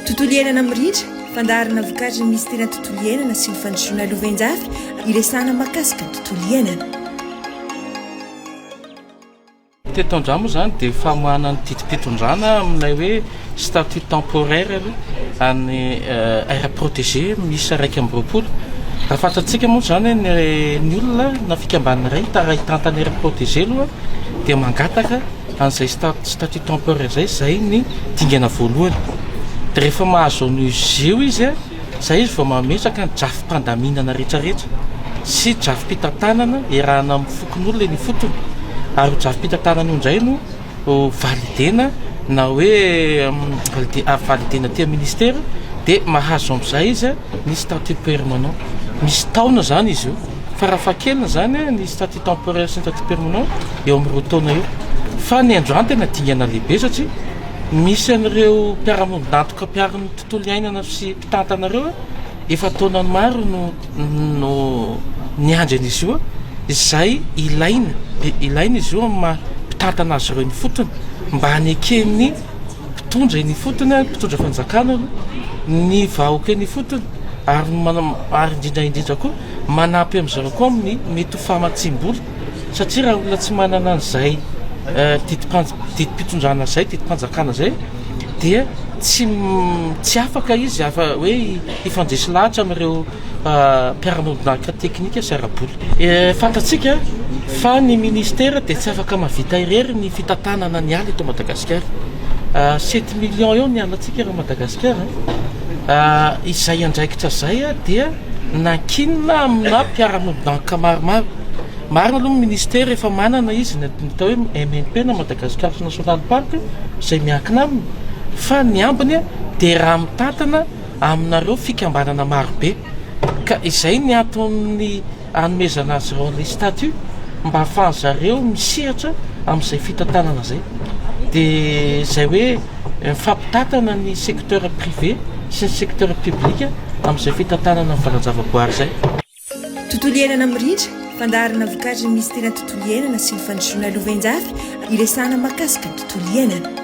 Tontolo iainana mirindra, fandaharana vokatry ny Minisiteran'ny Tontolo iainana sy ny Fandrosoana Lovainjafy, iresahana mahakasika ny tontolo iainana. Teto Andramo moa izany dia famoahana ny didim-pitondrana amin'ilay hoe statut temporaire aloha an'ny euh, aire protégée miisa iraika amby roapolo. Raha fantatsika moa izany ny ny olona na fikambanana iray hitara hitantana aire protégée aloha dia mangataka An'izay statut temporaire izay, izay ny dingana voalohany. Dia rehefa mahazo an'io izy io izy, izay izy vao mametraka ny drafi-pandaminana rehetrarehetra sy drafi-pitantanana iarahana amin'ny fokonolona eny ifotony. Ary io drafi-pitantanana io indray no validena na hoe valide- validena aty amin'ny ministera, dia mahazo amin'izay izy ny statut permanent. Misy taona izany izy io. Farafahakeliny izany ny statut. temporaire sy ny statut permanent eo amin'ny roa taona eo fa ny androany tena dingana lehibe satria misy an'ireo mpiara-miombon'antoka mpiaro ny tontolo iainana sy mpitantana ireo efa taona maro no no niandry an'izy io izay ilaina dia ilaina izy io amin'ny maha mpitantana azy ireo ny fotony mba haneken'ny Mpitondra eny ifotony, mpitondra fanjakana aloha, ny vahoka eny ifotony ary ary indrindra indrindra koa manampy amin'izy ireo koa amin'ny mety ho famatsiam-bola satria raha olona tsy manana an'izay didim-panj- didim-pitondrana izay, didim-panjakana izay dia tsy tsy afaka izy afa- hoe hifandresy lahatra amin'ireo. mpiara-monidinahitra teknika sy ara-bola. Fantatsika fa ny Ministera dia tsy afaka mahavita irery ny fitantanana ny ala eto Madagasikara. Sept millions eo ny alantsika eto Madagasikara. Izay andraikitra izay dia nankinina amina mpiara-monidinahitra maromaro. Marina aloha ny Ministera efa manana izy ny atao hoe MNP na Madagascar National Park izay miankina aminy fa ny ambiny dia raha mitantana aminareo fikambanana marobe ka izay ny anton'ny anomezana azy ireo an'ilay statut mba hahafahan'ny zareo misehatra amin'izay fitantanana izay dia izay hoe mifampitantana ny secteur privé sy ny secteur public amin'izay fitantanana ny valan-javaboary izay. Tontolo iainana mirindra, fandaharana vokatry ny misy tena tontolo iainana sy ny fandrosoana lovain-jafy iresahana mahakasika ny tontolo iainana.